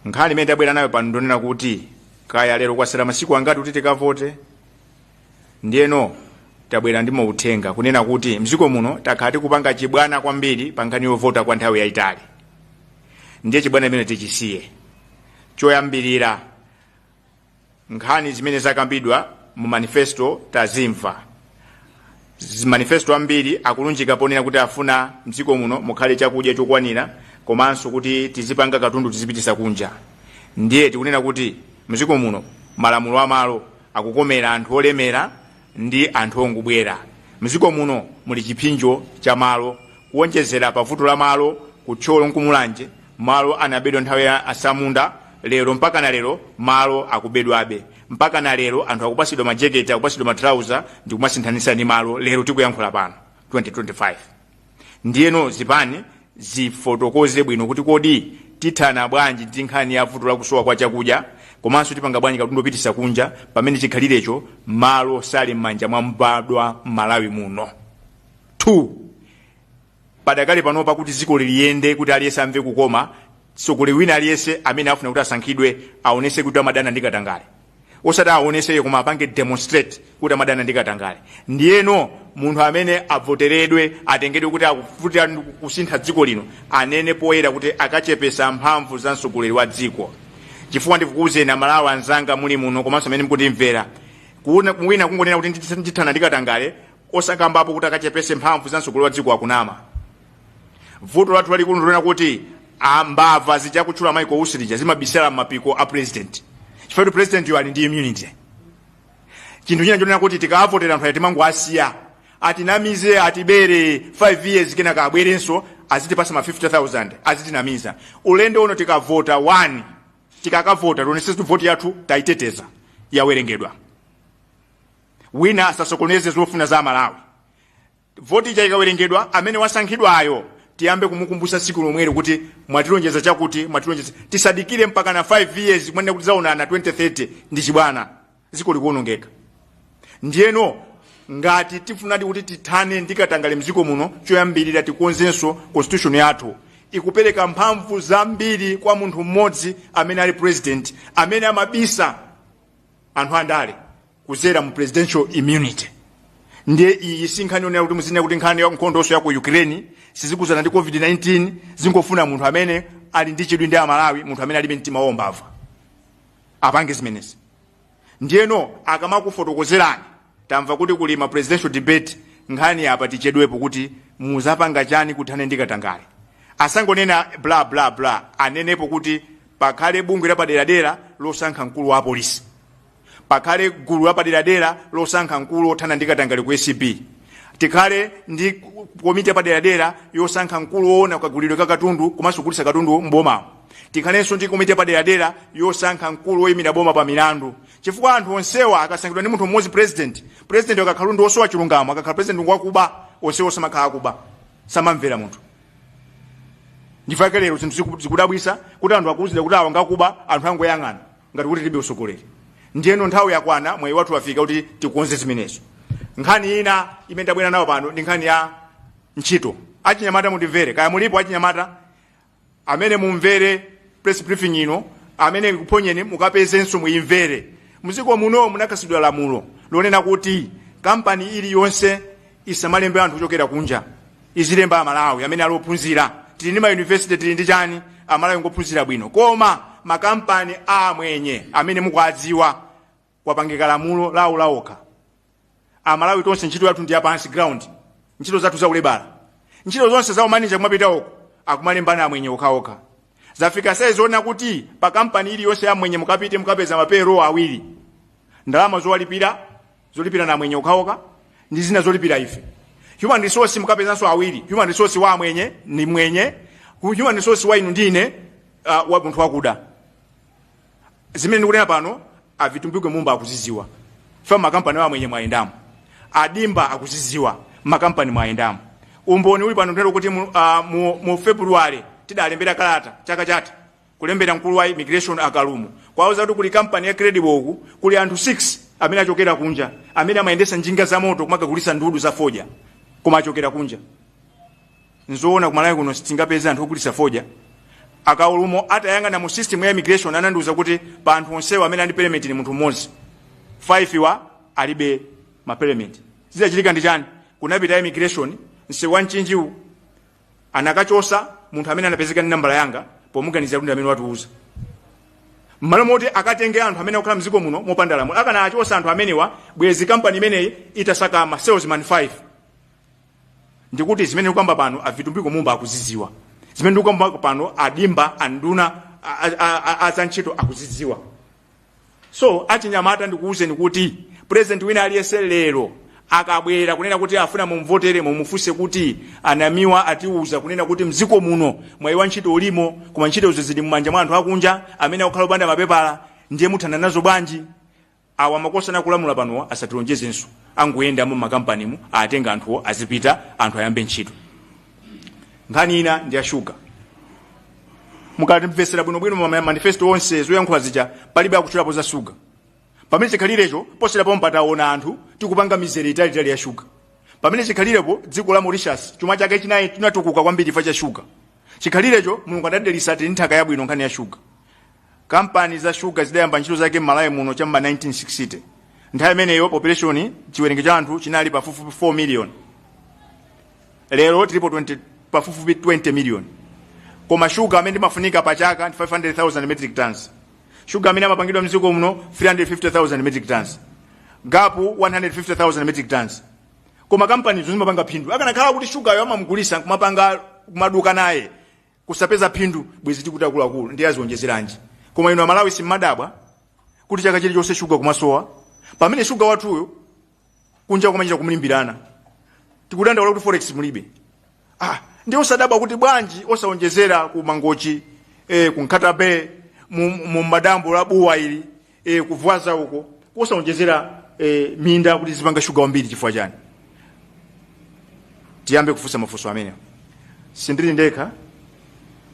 nkhani imene tabwera nayo pano ndonena kuti kaya lero kwasala masiku angati kuti tikavote ndiyeno tabwera ndi mauthenga kunena kuti mdziko muno takhala tikupanga chibwana kwambiri pa nkhani yovota kwa nthawi yayitali ndiye chibwana imene tichisiye choyambirira nkhani zimene zakambidwa mu manifesto tazimva manifesto ambiri akulunjika ponena kuti afuna mdziko muno mukhale chakudya chokwanira komanso kuti tizipanga katundu tizipitisa kunja ndiye tikunena kuti mdziko muno malamulo amalo akukomera anthu olemera ndi anthu ongobwera mdziko muno muli chipsinjo cha malo kuonjezera pa vuto la malo ku thyolo nkumulanje malo anabedwa nthawi ya asamunda lero mpaka na lero malo akubedwabe mpaka na lero anthu akupasidwa majeketi akupasidwa matrauza ndi kumasinthanisa ndi malo lero tikuyankhula pano 2025 ndiyeno zipani zifotokoze bwino kuti kodi tithana bwanji ndi nkhani ya vuto la kusowa kwa chakudya komanso tipanga bwanji katundu opitisa kunja pamene chikhalirecho malo sali m'manja mwa mbadwa m'malawi muno 2 padakali panopa kuti dziko lino liyende kuti aliyense amve kukoma mtsogoleri wina aliyense amene afuna kuti asankhidwe aonese kuti amadana ndi katangale osati aonese koma apange demonstrate kuti amadana ndi katangale ndiyeno munthu amene avoteredwe atengedwe kuti akufunadi kusintha dziko lino anene poyera kuti akachepesa mphamvu za mtsogoleri wa dziko chifukwa ndikukuuzeni amalawi anzanga muli muno komanso amene mukutimvera wina kungonena kuti ndithana ndi katangale osakambapo kuti akachepese mphamvu za mtsogoleri wa dziko akunama vuto lathu lalikulu ndilona kuti mbava zija kutchula maiko usilija zimabisala m'mapiko a president chifukwa kuti presidentiyo ali ndi immunity chinthu china chonena kuti tikawavotera anthu awa timangowasiya atinamize atibere 5 years kenaka abwerenso azitipasa ma 50000 azitinamiza ulendo uno tikavota 1 tikakavota tionese kuti voti yathu tayiteteza yawerengedwa wina asasokoneze zofuna za amalawi Voti ija ikawerengedwa, amene wasankhidwayo tiyambe kumukumbutsa tsiku lomwelo kuti mwatilonjeza chakuti, mwatilonjeza. Tisadikire mpakana 5 years kumanena kuti tidzaonana 2030 ndi chibwana. Dziko likuwonongeka. Ndiyeno ngati tifunadi kuti tithane ndi katangale m'dziko muno, choyambirira tikonzenso constitution yathu. Ikupereka mphamvu zambiri kwa munthu mmodzi amene ali president, amene amabisa anthu andale. kudzera mu presidential immunity ndiye iyi si nkhani yonera kuti muzinena kuti nkhani ya nkhondoso ya ku ukraine sizikuzana ndi covid-19 zingofuna munthu amene ali ndi chidwi ndi amalawi munthu amene alibe mtima wombava apange zimenezi ndiyeno akamakufotokozerani tamva kuti kuli ma presidential debate nkhani apa tichedwepo kuti muzapanga chani kuthana ndi katangale asangonena bla bla bla anenepo kuti pakhale bungwe lapaderadera losankha mkulu wa apolisi pakhale gulu lapaderadera losankha mkulu othana ndi katangale ku acb tikhale ndi komiti yapaderadera yosankha mkulu woona kagulidwe ka katundu komanso kugulitsa katundu m'bomamo tikhalenso ndi komiti yapaderadera yosankha mkulu woyimira boma pa milandu chifukwa anthu onsewa akasankhidwa ndi munthu mmodzi president president akakhala ndi osowa chilungamo akakhala president wakuba onsewo amakhala akuba amamvera munthu ndifake lero zinthu ziku- zikudabwisa kuti anthu akuuzidwa kuti awa ngakuba anthu angoyang'ana ngati kuti tilibe utsogoleri ndiyeno nthawi yakwana mwayi wathu wafika kuti tikonze zimenezo nkhani ina imene tabwera nayo pano ndi nkhani ya ntchito achinyamata mundimvere kaya mulipo achinyamata amene mumvere press briefing ino amene ikuphonyeni mukapezenso muyimvere mdziko muno munakhazikidwa lamulo lonena kuti kampani iliyonse isamalembe anthu kuchokera kunja izilemba amalawi amene ali ophunzira tili ndi mayunivesite tili ndi chani amalawi ngophunzira bwino koma makampani a amwenye amene mukuadziwa kwapangika lamulo lawo laokha amalawi tonse ntchito yathu ndi yapansi ground ntchito zathu za ulebala ntchito zonse za umanija kumapita uko akumalembana amwenye okhaokha zafika saizi yonena kuti pa kampani iliyonse yamwenye mukapite mukapeza ma payroll awiri ndalama zowalipira zolipira amwenye okhaokha ndi zina zolipira ife human resource mukapezanso awiri human resource wa amwenye ni mwenye hu- human resource wa inu ndi ine uh, wa munthu wakuda zimene ndikunena pano a vitumbiko mumba akuziziwa chifukwa makampani a amwenye mwayendamo a dimba akuziziwa makampani mwayendamo umboni uli pano ndinalo kuti mu, uh, mu, mu february tidalembera kalata chaka chatha kulembera mkulu wa immigration a Kalumo kuwauza kuti kuli kampani ya Credible uku kuli anthu 6 amene achokera kunja amene amayendesa njinga za moto kumakagulisa ndudu za fodya koma achokera kunja nzoona kumalawi kuno sitingapeze anthu ogulisa fodya a Kalumo atayang'ana mu system ya immigration anandiuza kuti pa anthu onsewa amene ali permit ni munthu mmodzi 5 wa alibe ma permit zidachitika ndi chani kunapita immigration nseu wa mchinjiwu anakachosa munthu amene anapezeka ndi nambala yanga pomuganizira kuti ndi amene watiuza mmalo moti akatenge anthu amene akukhala mdziko muno mopanda lamulo akanakachosa anthu amenewa bwezi kampani imeneyi itasaka ma salesman 5 ndikuti zimene ndikukamba pano a vitumbiko mumba akuzidziwa zimene ndikukamba pano a dimba anduna a- a- a- a- a za ntchito akuzidziwa so achinyamata ndikuwuzeni kuti president wina aliyense lero akabwera kunena kuti afuna mumvotere mumufunse kuti anamiwa atiwuza kunena kuti mdziko muno mwayi wa ntchito ulimo koma ntchitozo zidi mmanja mwa anthu akunja amene akukhala opanda mapepala ndiye muthana nazo bwanji awa akufuna kulamula panowa asatilonjezenso angoyendamo mmakampanimu atenga anthuwo azipita anthu ayambe ntchito nkhani ina ndi ya shuga mukamvetsera bwinobwino ma manifesto onse zoyankhula zija palibe akutchulapo za shuga pamene chikhalirecho posachedwa pompa taona anthu tikupanga mizere italiitali ya shuga pamene chikhalirecho dziko la mauritius chuma chake chinayi chinatukuka kwambiri chifukwa cha shuga chikhalirecho mulungu adatidalitsa tili ndi nthaka yabwino nkhani ya shuga Kampani za shuga zidayamba ntchito zake m'Malawi muno cha m'ma 1960. Nthawi imeneyo population, chiwerengero cha anthu chinali pafupifupi 4 million. Lero tilipo 20, pafupifupi 20 million. Koma shuga amene umafunika pa chaka ndi 500,000 metric tons. Shuga amene amapangidwa mdziko muno 350,000 metric tons. Gapu 150,000 metric tons. Koma kampanizo zimapanga phindu. Akanakhala kuti shugayo akamamugulitsa kumapanga kumaduka naye kusapeza phindu bwezi tikuti akuluakulu ndiye azionjezeranji koma inu amalawi simmadabwa kuti chaka chilichonse shuga kumasowa pamene shuga wathuyo kunja kumachita kumlimbirana tikudandaula kuti forex mulibe ah, ndiye osadabwa kuti bwanji osaonjezera ku mangochi eh, ku nkhata bay mu, mu mudambo la bua ili e, ku vwaza uko osaonjezera e, minda kuti tizipanga shuga wambiri chifukwa chani tiyambe kufunsa mafunso amenewa sindili ndekha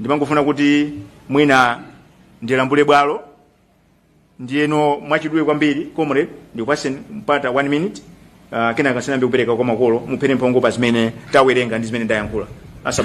ndimangofuna kuti mwina ndilambule bwalo ndiyeno mwachidule kwambiri comrade ndikupatseni mpata one minute uh, kenaka tisanayambe kupereka kwa makolo mupherepo mphongo pa zimene tawerenga ndi zimene ndayankhula